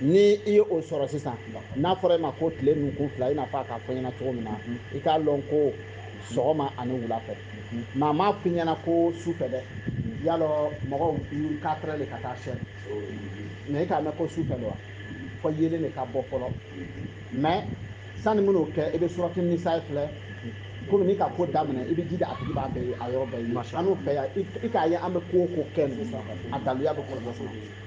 ni i ye o sɔrɔ sisan n'a fɔra e ma ko tile nunkun fila i n'a fɔ a k'a fɔ ɲɛna cogo min na i k'a lɔn ko sɔgɔma ani wula fɛ mɛ a m'a f'i ɲɛna ko su fɛ dɛ y'a lɔn mɔgɔw quatre heures de ka taa sɛ mɛ i k'a mɛn ko su fɛ de wa fo yeelen de ka bɔ fɔlɔ mɛ sani minnu kɛ i bɛ surati nisa filɛ komi n'i ka ko daminɛ i bɛ jija a tigi b'a bɛɛ a yɔrɔ bɛɛ ye an n'u fɛ yan i k'a ye an bɛ ko o ko kɛ a daluya bɛ kɔlɔlɔ sɔrɔ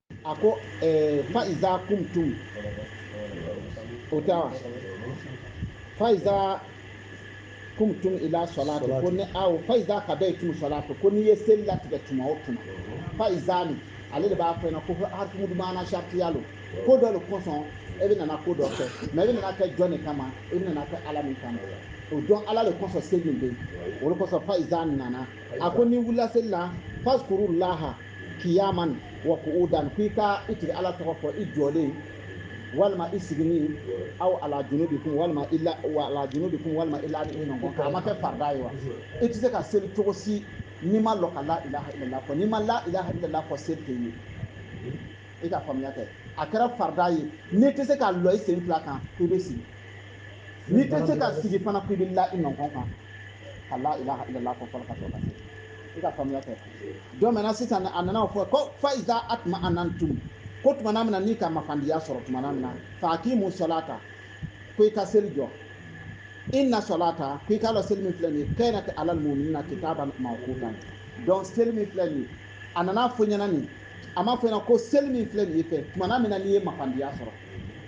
a ko eh, fa'iza kuntum o tɛ wa fa'iza kuntum ila salati ko ni aw fa'iza kadaitum salati ko n'i ye seli latigɛ tuma o tuma fa'iza nin ale de b'a fɔ ɲɛna ko harfu maana shartiya lo ko dɔ de kosɔn e bɛ nana ko dɔ kɛ mɛ e bɛ nana kɛ jɔn de kama e bɛ nana kɛ ala min kama o jɔn ala de kosɔn seli bɛ yen o de kosɔn fa'iza nana a ko n'i wulila seli la fazkuru laha kiyaman wa qu'udan k'i ka i tigi ala tɔgɔ fɔ i jɔlen walima i sigini aw ala wa ala junubikum walima i lanin i nɔnkɔn kan a ma kɛ farda ye wa i tɛ se ka seli cogo si n'i ma lɔ ka la ilaha illallah fɔ n'i ma la ilaha illallah fɔ seli tɛ ye i ka faamuya kɛ a kɛra farda ye n'i tɛ se ka lɔ i sen fila kan i bɛ sigi n'i tɛ se ka sigi fana ko i bɛ la i nɔnkɔn kan ka la ilaha illallah fɔ fɔlɔ ka sɔrɔ ka seli i ka faamuya kɛ donc maintenant sisan a nana fɔ ko fa iza atma anantum ko tumana min na n'i ka mafandiya sɔrɔ tumana min na fa akimu salata ko i ka seli jɔ inna salata ko i k'a lɔn seli min filɛ nin ye kanat alal mu'minina kitaban mawqutan donc seli min filɛ nin ye a nana fɔ ɲɛna nin a m'a fɔ ɲɛna ko seli min filɛ nin ye fɛ tumana min na n'i ye mafandiya sɔrɔ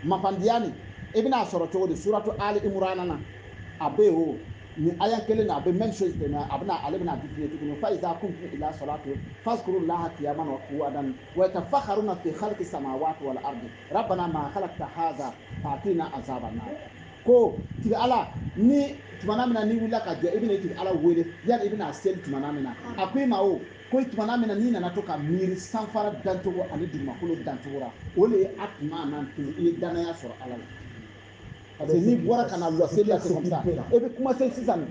mafandiya nin i bɛna a sɔrɔ cogo di suratu ali imurana na a bɛ o nin aya kelen na a bɛ même chose tɛmɛ a bɛna ale bɛna définir tuguni fa iza kuntum ila salatu fazkuru laha qiyaman wa qu'udan wa yatafakkaruna fi khalqi samawati wal ardi rabbana ma khalaqta hadha fatina azaban nar ko tigi ala ni tumana min na n'i wulila ka jɔ i bɛna i tigi ala wele yani i bɛna seli tumana min na a ko i ma o ko tumana min na n'i nana to ka miiri sanfara dancogo ani dugumakolo dancogo la o de ye a tuma n'an to i ye danaya sɔrɔ ala la parce que n'i bɔra ka na bila seli la sisan e bɛ commencer sisan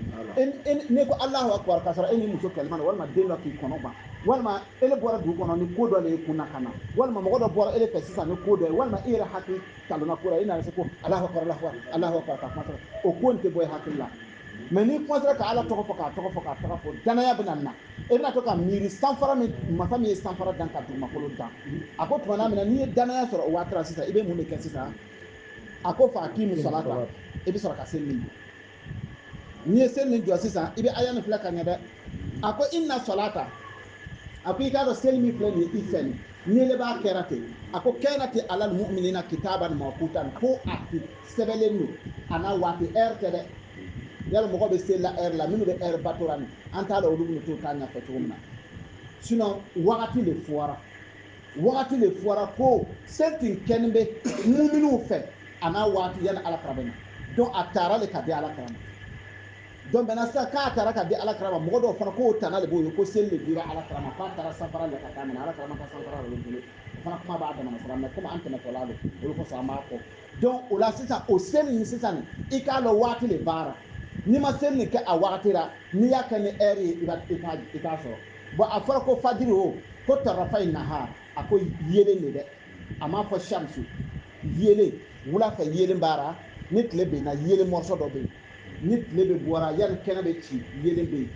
ne ko alahu akubar k'a sɔrɔ e ni muso kɛlɛma na walima den dɔ k'i kɔnɔ gban walima e le bɔra dugu kɔnɔ ni ko dɔ de ye kun na ka na walima mɔgɔ dɔ bɔra e le fɛ sisan ni ko dɔ ye walima e yɛrɛ hakili talonna ko la e nana se ko alahu akubar alahu akubar alahu akubar ka kuma sɔrɔ o ko in tɛ bɔ e hakili la mɛ n'i commencera ka ala tɔgɔ fɔ k'a tɔgɔ fɔ k'a tɔgɔ fɔ danaya bɛna na e bɛna to ka miiri sanfara min masa min ye sanfara dan ka dugumakolo dan a ko tumana min na n'i ye danaya sɔrɔ o waati sisan i bɛ mun de kɛ sisan a ko fa aqimu salata i bɛ sɔrɔ ka seli min jɔ n'i ye seli nin jɔ sisan i bɛ aya nin filɛ ka ɲɛ dɛ a ko inna salata a ko i k'a dɔn seli min filɛ nin ye i fɛ nin n'i le b'a kɛra ten a ko kanat alal mu'minina kitaban mawqutan ko a sɛbɛnlen don a n'a waati ɛri tɛ dɛ yala mɔgɔ bɛ seli la ɛri la minnu bɛ ɛri batora nin an t'a dɔn olu bɛ t'o ta ɲɛfɔ cogo min na sinon wagati de fɔra wagati de fɔra ko seli tun kɛnin bɛ muminiw fɛ a n'a waati yanni ala kira bɛ na donc a taara le ka di ala kira ma donc maintenant sisan k'a taara ka di ala kira ma mɔgɔ dɔw fana k'o tana de b'o ye ko seli de dira ala kira ma k'a taara sanfara le ka taa minɛ ala kira ma taa sanfara la olu bolo o fana kuma b'a damana sira mais comme an tɛmɛtɔla don o le kosɔn an b'a fɔ donc o la sisan o seli in sisan i k'a lɔn waati le b'a ra n'i ma seli nin kɛ a wagati la n'i y'a kɛ ni ɛri ye i t'a sɔrɔ bon a fɔra ko fajiri o ko tarafayi nahar a ko yeelen de dɛ a m'a fɔ shamsu yeelen wula fɛ yeelen b'a ra ni tile benna yeelen morceau dɔ bɛ yen ni tile bɛ bɔra yanni kɛnɛ bɛ ci yeelen bɛ yen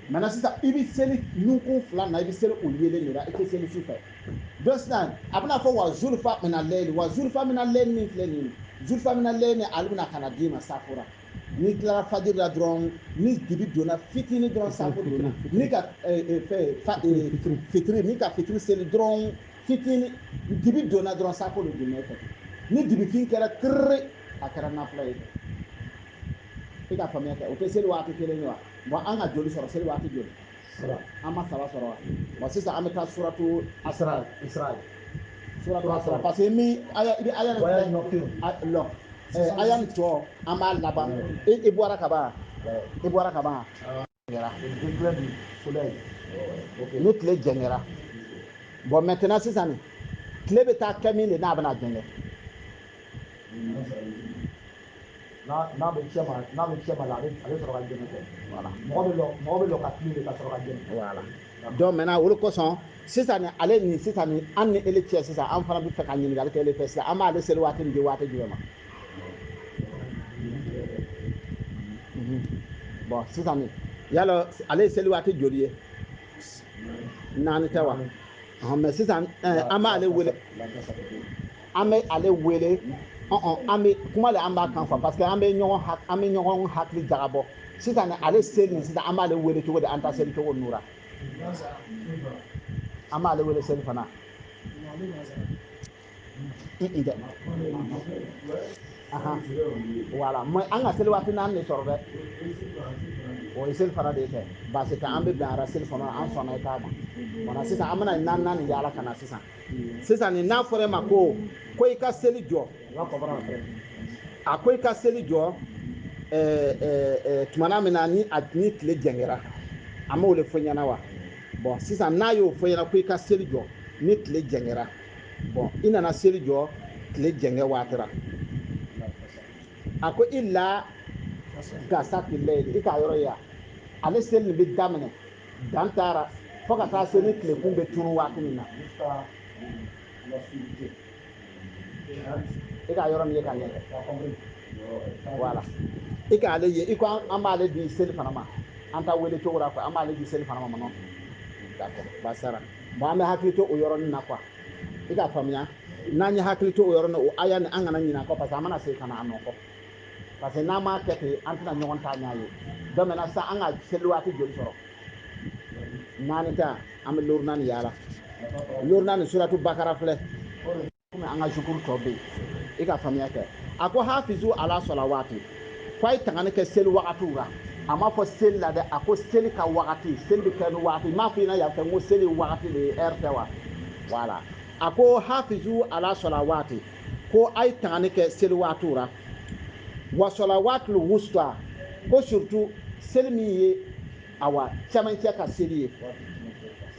maintenant sisan i bɛ seli nunkun fila na i bɛ seli o yeelen de la i tɛ seli su fɛ donc sisan a bɛna fɔ wa zulufa mina lɛyili wa zulufa mina lɛyili min filɛ nin ye zulufa mina lɛyili ale bɛna ka na d'i ma safo ra n'i tilara fajiri la dɔrɔn ni dibi donna fitini dɔrɔn safo donna n'i ka fitiri n'i ka fitiri seli dɔrɔn fitini dibi donna dɔrɔn safo de donna e fɛ ni dibifin kɛra kiriri a kɛra nafila ye i ka faamuya kɛ o tɛ seli waati kelen ye wa bon an ka joli sɔrɔ seli waati joli an ma saba sɔrɔ wa bon sisan an bɛ taa suratu asra isra suratu isra parce que min aya i bɛ aya aya nɔ kelen lɔn aya nin tɔ an b'a laban i bɔra ka ban i bɔra ka ban ni tile jɛngɛra bon maintenant sisan nin tile bɛ taa kɛ min de n'a bɛna jɛngɛ n'a bɛ cɛ ma n'a bɛ cɛ ma la a bɛ a bɛ sɔrɔ ka jɛngɛ kɛ voilà mɔgɔ bɛ lɔ mɔgɔ bɛ lɔ ka tile de ka sɔrɔ ka jɛngɛ voilà donc maintenant o de kosɔn sisan nin ale nin sisan nin an ni ele cɛ sisan an fana bɛ fɛ ka ɲininkali kɛ ele fɛ sisan an b'ale seli waati nin di waati jumɛn ma bon sisan nin yala ale ye seli waati joli ye naani tɛ wa mais sisan an b'ale wele an bɛ ale wele an bɛ kuma de an b'a kan fɔ parce que an bɛ ɲɔgɔn an bɛ ɲɔgɔn hakili jagabɔ sisan nin ale seli nin sisan an b'ale wele cogo di an ta seli cogo nura an b'ale wele selifana dɛ voilà mais an ka seli waati naani de sɔrɔ dɛ o ye selifana de kɛ baasi tɛ an bɛ bɛn a ra selifana an sɔnna i ta ma sisan an bɛna naani yaala ka na sisan sisan nin n'a fɔra e ma ko ko i ka seli jɔ a ko i ka seli jɔ tumana min na ni a ni tile jɛngɛra a m'o le fɔ ɲɛna wa bɔn sisan n'a y'o fɔ ɲɛna ko i ka seli jɔ ni tile jɛngɛra bɔn i nana seli jɔ tile jɛngɛ waati ra a ko ila gasaki layi i k'a yɔrɔ ye ale seli nin bɛ daminɛ dan taara fo ka taa se ni tilekun bɛ turu waati min na i k'a yɔrɔ nin ye ka ɲɛ voilà i k'ale ye i ko an b'ale di selifana ma an ta wele cogo la quoi an b'ale di selifana ma non d'accord basara bon an bɛ hakili to o yɔrɔnin na quoi i k'a faamuya n'an ye hakili to o yɔrɔ la o aya nin an kana ɲinɛ a kɔ parce que an mana segin ka na a nɔ kɔ parce que n'an m'a kɛ ten an tɛna ɲɔgɔn ta ɲɛ ye donc maintenant sa an ka seli waati joli sɔrɔ naani tɛ an bɛ loorunan nin yaala loorunan nin suratu bakara filɛ komi an ka zuhuru tɔ bɛ yen i k'a faamuya kɛ a ko hafizu ala salawati ko a ye tangani kɛ seli wagatiw la a m'a fɔ seli la dɛ a ko seli ka wagati seli bɛ kɛ ni wagati m'a fɔ i ɲɛna yan fɛ n ko seli wagati le ye ɛri tɛ wa voilà a ko hafizu ala salawati ko a ye tangani kɛ seli waatiw ra wa salawatil wusta ko surtout seli min ye awa cɛmancɛ ka seli ye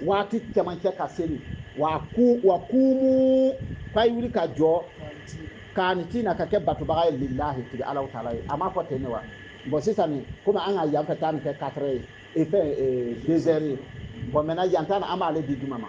waati cɛmancɛ ka seli wa ku wa kumu k'a ye wuli ka jɔ kanitina ka kɛ batobaga ye lillahi tigi alahu taala ye a m'a fɔ ten ne wa bɔn sisan ni komi an ka yan fɛ ta nin kɛ katrɛ ye e fɛn e, dezɛri ye bɔn maintenant yan ta nin an b'ale di juma ma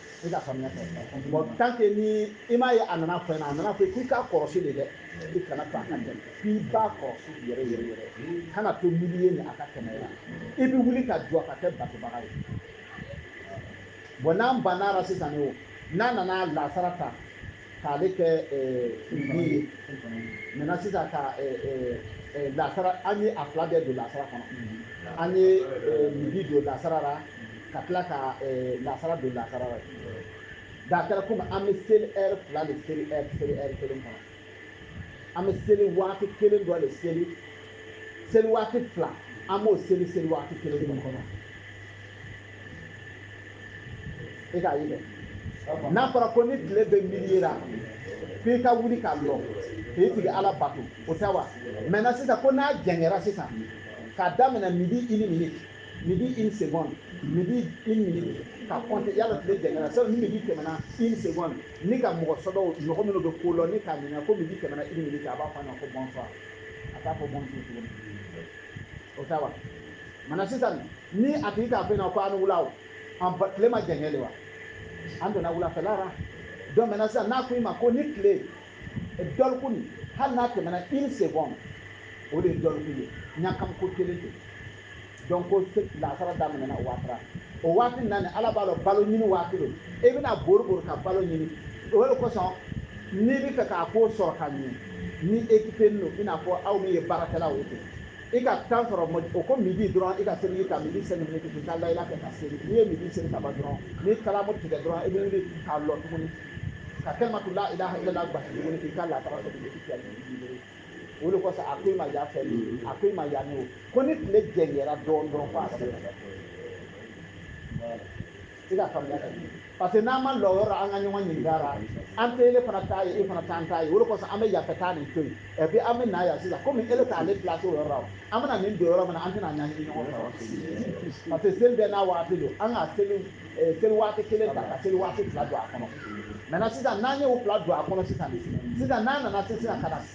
i k'a faamuya kɛ bɔn tant que ni i m'a ye a nana fɔ ɲɛna a nana fɔ k'i k'a kɔrɔsi de dɛ i kana to a ka tɛmɛ k'i b'a kɔrɔsi yɛrɛ yɛrɛ yɛrɛ kana to milieu nin a ka tɛmɛ la i bɛ wuli ka jɔ ka kɛ batobaga ye bɔn n'an banna la sisan o n'a nana lasara ta k'ale kɛ midi ye maintenant sisan ka lasara an ye a fila bɛɛ don lasara kɔnɔ an ye midi don lasara la ka tila ka lasara don lasara la da kɛra komi an bɛ seli ɛri fila de seli ɛri seli ɛri kelen kɔnɔ an bɛ seli waati kelen dɔ le seli seli waati fila an b'o seli seli waati kelen kɔnɔ e k'a ye dɛ n'a fɔra ko ni tile bɛ milieu ra ko i ka wuli ka lɔ k'i tigi ala bato o tɛ wa maintenant sisan ko n'a jɛngɛra sisan k'a daminɛ midi une minute midi une seconde midi une minute ka compter yala tile jɛngɛra sɔ ni midi tɛmɛna une seconde n'i ka mɔgɔ sɔdɔw mɔgɔ minnu bɛ ko lɔn i k'a ɲininka ko midi tɛmɛna une minute a b'a fɔ a ɲɛna ko bonsoir a t'a fɔ bonjour tuguni o tɛ wa Maintenant sisan ni a tigi k'a fɔ i ɲɛna ko a ni wula o tile ma jɛngɛ de wa an donna wulafɛla la donc maintenant sisan n'a ko i ma ko ni tile dɔlikun hali n'a tɛmɛna une seconde o de ye dɔlikun ye ɲagamiko kelen tɛ donc ko lansara daminɛna o waati la o waati nin na ni ala b'a dɔn balo ɲini waati don i bɛna bori bori ka balo ɲini o de kosɔn n'i bɛ fɛ k'a ko sɔrɔ ka ɲɛ ni ekipe nin don i n'a fɔ aw min ye baarakɛlaw ye ten i ka temps sɔrɔ o ko midi dɔrɔn i ka seli ka midi cinq minutes k'i ka layila kɛ ka seli n'i ye midi seli ka ban dɔrɔn n'i kalamu tigɛ dɔrɔn i bɛ wuli k'a lɔ tuguni ka kalimatu la ilaha illallah gbasi tuguni k'i ka lansara sɔrɔ i k'i o de kosɔn a ko i ma yan fɛ a ko i ma yan n'o ko ni tile jɛngɛra dɔɔnin dɔrɔn ko a sera i ka faamuya ka ɲɛ parce que n'an ma lɔyɔrɔ an ka ɲɔgɔn ɲininka ra an tɛ ele fana t'a ye e fana t'an t'a ye o de kosɔn an bɛ yan fɛ taa nin to yen et puis an bɛ na yan sisan komi ele t'ale place o yɔrɔ la an bɛna nin don yɔrɔ min na an tɛna ɲagami ɲɔgɔn fɛ parce que seli bɛɛ n'a waati don an ka seli eh, seli waati kelen ta ka seli waati fila don a kɔnɔ maintenant sisan n'an ye o fila don a kɔnɔ sisan sisan n'an nana se sisan ka na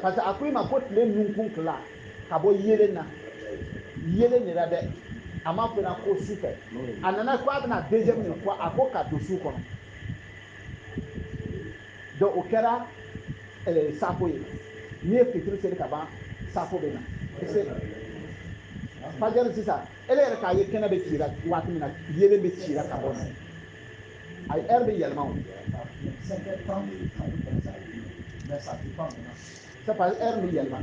parce que a ko i ma ko tile nunkun tila ka bɔ yelen na yelen de la dɛ a ma fɔ i ɲɛna ko su fɛ a nana ko a bɛna deuxième nin fɔ a ko ka don su kɔnɔ donc o kɛra eh, safo ye n'i ye fitiri seli ka ban safo bɛ na fajiri sisan ele yɛrɛ k'a ye kɛnɛ bɛ ci la waati min na yelen bɛ ci la ka bɔ na a ye heure bɛ yɛlɛma o c'est parce que heure bɛ yɛlɛma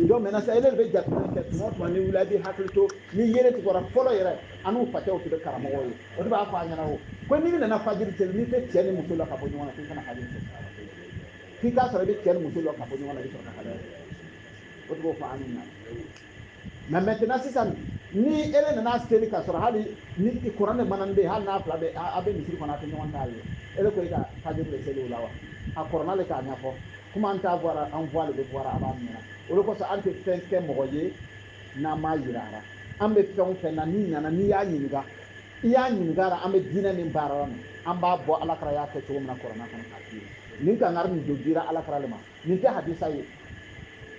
donc maintenant sisan ele de bɛ jateminɛ kɛ tuma o tuma ni wuli a bɛ hakili to ni yelen tigɛra fɔlɔ yɛrɛ an n'u facɛw tun bɛ karamɔgɔw ye o de b'a fɔ an ɲɛna o ko n'i nana fajiri seli n'i tɛ cɛ ni muso lɔn ka bɔ ɲɔgɔn na k'i kana fajiri seli k'i k'a sɔrɔ i bɛ cɛ ni muso lɔn ka bɔ ɲɔgɔn na i bɛ sɔrɔ ka fajiri seli o de b'o fɔ an ɲɛna mais maintenant sisan ni ele nana seli ka sɔrɔ hali ni kuran de manan bɛ hali n'a fila bɛ a bɛ misiri kɔnɔ a tɛ ɲɔgɔn t'a ye ele ko i ka fajiri de seli o la wa a kɔrɔna le k'a ɲɛfɔ kuma an t'a bɔra an voile de bɔra a b'a ɲɛna o de kosɔn an tɛ fɛn kɛ mɔgɔ ye n'an m'a yira a la an bɛ fɛn o fɛn na n'i nana n'i y'a ɲininka i y'a ɲininka a la an bɛ diinɛ min baara la an b'a bɔ ala kira y'a kɛ cogo min na kɔrɔna kɔnɔ k'a f'i ye nin kangari nin tun dira ala kira le ma nin tɛ hadisa ye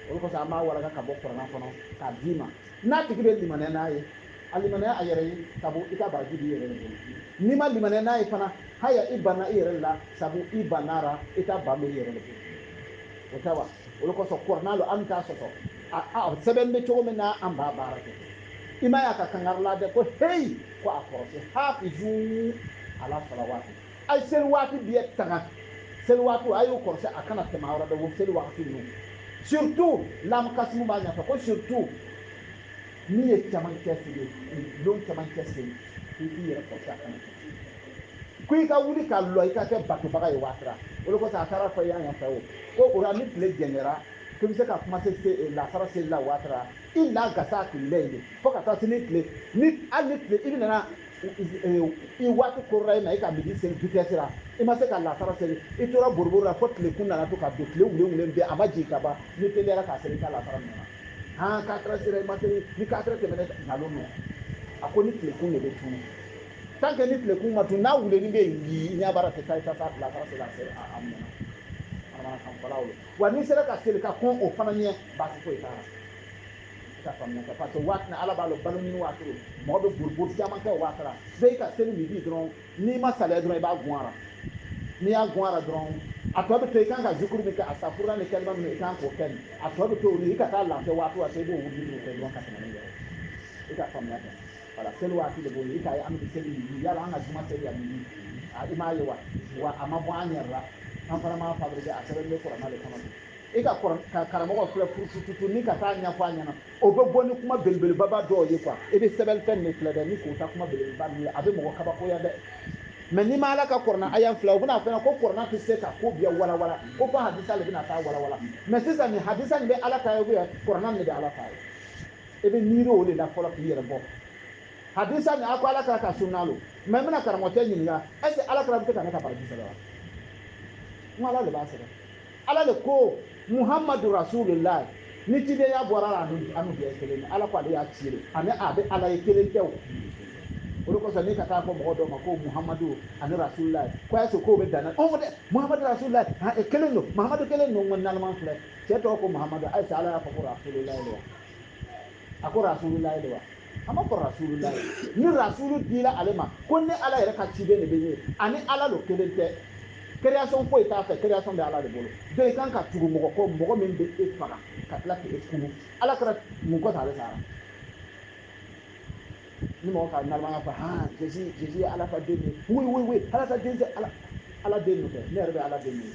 o le kosɔn an b'a walaka ka bɔ kɔrɔna kɔnɔ k'a d'i ma n'a tigi bɛ limaniya n'a ye a limaniya a yɛrɛ ye sabu i ka baraji b'i yɛrɛ de bolo n'i ma limaniya n'a ye fana haya i banna i yɛrɛ la sabu i bannara i ta ban bɛ i yɛrɛ de bolo o tɛ wa o le kosɔn kɔrɔna lo an t'a sɔsɔ a sɛbɛn bɛ cogo min na an b'a baara kɛ i ma y'a ka kangari la dɛ ko heyi ko a kɔrɔsi hafizu ala salawaati A ye seli waati bɛɛ tanga seli waatiw a y'u kɔlɔsi a kana tɛmɛ a yɔrɔ bɛɛ seli waati ninnu surtout lam kasimu b'a ɲɛfɔ ko surtout min ye camancɛ seli don camancɛ seli i k'i yɛrɛ kɔlɔsi a kana tɛmɛ ko i ka wuli ka lɔ i ka kɛ batobaga ye waatira o de kosɔn a taara fɔ yan yan fɛ o ko o la ni tile jɛngɛra k'i bɛ se ka kuma se eh, lasara seli la waatira ila gasaki lɛyili fo ka taa se ni tile ni hali ni tile i bɛ nana i waati korora in na i ka midi seli vitesse la i ma se ka lasara seli i tora boroboro la fo tilekun nana to ka don tile wulewulen bɛɛ a ma jigin ka ban n'i teliyara k'a seli i ka lasara minɛna han quatre heures sera i ma seli ni quatre heures tɛmɛna nkalon lo a ko ni tilekun de bɛ tunu tant que ni tilekun ma tunu n'a wuleni bɛ yen i ɲɛ b'a la tɛ taa i ka taa lasara seli a seli a minɛna manamanakanfɔlaw ye wa n'i sera ka seli ka kɔn o fana ɲɛ baasi foyi t'a la ka faamuya kɛ parce que waati na ala b'a lɔn balo ɲini waati lo mɔgɔ bɛ boribori caman kɛ waati la bɛɛ ka seli midi dɔrɔn n'i ma saliya dɔrɔn i b'a gun ara n'i y'a gun ara dɔrɔn a tɔ bɛ to i kan ka zikuru min kɛ asitafurula ni kalima minnu i kan k'o kɛ a tɔ bɛ to olu i ka taa lafiya waati waati i b'o wuli kɛ dɔrɔn ka tɛmɛ n'i yɛrɛ i ka faamuya kɛ voilà seli waati de b'o ye i k'a ye an bɛ seli midi yala an ka juma seli ya midi i m'a ye wa wa a ma bɔ an yɛrɛ la an fana m'a fabriquer a sɛbɛn bɛ kurana de kɔnɔ i ka karamɔgɔ filɛ furutututu ni ka taa ɲɛfɔ a ɲɛna o bɛ bɔ ni kuma belebelebaba dɔw ye quoi i bɛ sɛbɛnfɛn de filɛ dɛ ni k'o ta kuma belebeleba min ye a bɛ mɔgɔ kabakoya dɛ mais n'i ma ala ka kurana aya filɛ u bɛna fɛn ko kurana tɛ se ka ko bɛɛ walawala ko fɔ hadisa de bɛna taa walawala mais sisan nin hadisa nin bɛ ala ta ye kurana de bɛ ala ta ye i bɛ miiri o de la fɔlɔ k'i yɛrɛ bɔ hadisa nin a ko ala kira ka sunna lo mais n bɛna karamɔgɔcɛ ɲininka est-ce que ala kira bɛ se ka ne ka baraji sɛbɛn wa n ko ala de b'a sɛbɛn Ala de ko Muhamadu Rasululahi ni cidenya bɔra a la anu bɛɛ kelen Ala ko ale y'a ci de ani a bɛ Ala ye kelen tɛ o o de kosɔn n'i ka taa fɔ mɔgɔ dɔ ma ko Muhamadu ani Rasululahi ko a y'a to k'o bɛ dan ɔn dɛ Muhamadu Rasululahi han e kelen don Muhamadu kelen don n ko nalama filɛ cɛ tɔgɔ ko Muhamadu est-ce que Ala y'a fɔ ko Rasululahi de wa a ko Rasululahi de wa a ma fɔ rasulula ni rasulu dila ale ma ko ne ala yɛrɛ ka ciden de bɛ ye ani ala lo kelen tɛ création foyi t'a fɛ création bɛ ala de bolo donc i kan ka tugu mɔgɔ kɔ mɔgɔ min bɛ e faga ka tila k'e kunu ala kira mun kɔfɛ ale sara ni mɔgɔ ka nalomaya fɔ ha Jésus Jésus ye ala ka den de ye oui oui oui ala ka den tɛ ala ala den de tɛ ne yɛrɛ bɛ ala den de ye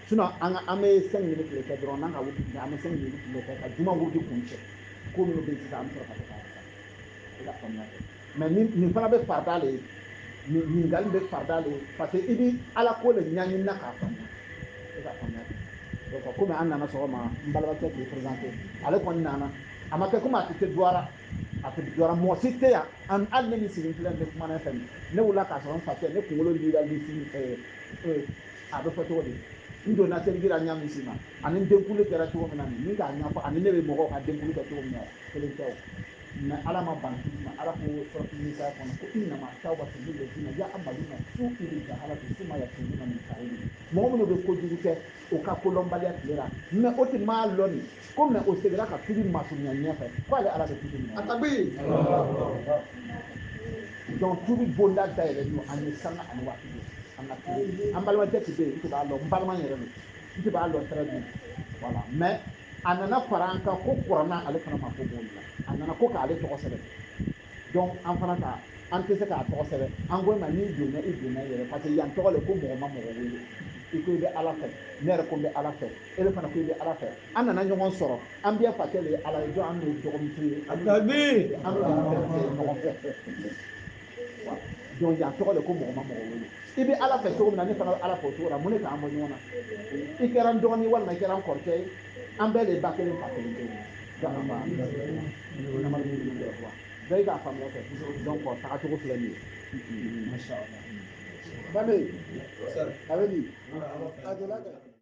sinon an ka an bɛ cinq minutes le kɛ dɔrɔn n'an ka wuti tile an bɛ cinq minutes le kɛ ka juma wuti kun cɛ ko minnu bɛ yen sisan an bɛ sɔrɔ ka taa i ka faamuya kɛ mais nin nin fana bɛ farida de ye nin ɲininkali bɛ farida de ye parce que i bɛ ala ko de ɲɛɲini na k'a faamuya i ka faamuya kɛ donc komi an nana sɔgɔma n balimakɛ k'i présenté ale kɔni nana a ma kɛ komi a tɛ se duwara a tɛ duwara mɔgɔ si tɛ yan an hali ne min sigilen filɛ ne kumana fɛ ne wulila k'a sɔrɔ n fa tɛ ne kunkolo lira lisini a bɛ fɔ cogo di n donna terikira ɲa min si ma ani n denkunli kɛra cogo min na nin min k'a ɲɛfɔ ani ne bɛ mɔgɔw ka denkunli kɛ cogo min na kelen tɛ o mais ala ma ban k'i ma ala ko suratu nisa kɔnɔ ko innama tawbatu lillazina ya'maluna su'a bi jahalati summa yatubuna min qarib mɔgɔ minnu bɛ kojugu kɛ o ka kolɔnbaliya tile la mais o tɛ m'a lɔn ko mais o segira ka tubi masurunya ɲɛfɛ ko ale ala bɛ tubi minɛ a tabi donc tubi bonda dayɛlɛ don an ye sanga ani waati don an ka tubi an balimakɛ tɛ bɛ yen n tɛ b'a lɔn n balima yɛrɛ don n tɛ b'a lɔn très bien voilà mais a nana fara an kan kokura na ale fana mako b'o la a nana ko k'ale tɔgɔ sɛbɛn donc an fana ko an tɛ se k'a tɔgɔ sɛbɛn an ko ma n'i donna i donna i yɛrɛ parce que yan tɔgɔ le ko mɔgɔ ma mɔgɔ wele i ko i bɛ ala fɛ ne yɛrɛ ko n bɛ ala fɛ ele fana ko i bɛ ala fɛ an nana ɲɔgɔn sɔrɔ an bɛɛ fakɛ de ye ala ye donc an bɛ dɔgɔmuso ye an bɛ ɲɔgɔn fɛ donc yan tɔgɔ le ko mɔgɔ ma mɔgɔ wele i bɛ ala fɛ cogo min na ne fana bɛ ala fɛ o cogo la mun de k'an bɔ ɲɔgɔn na i kɛra n dɔgɔnin walima i kɛra n kɔrɔkɛ ye an bɛɛ de ye ba kelen fa kelen kelen dangaba namadu bɛ ɲɔgɔn fɛ bɛɛ y'i ka faamuya kɛ donc taga cogo filɛ nin ye. Bambi, a bɛ di?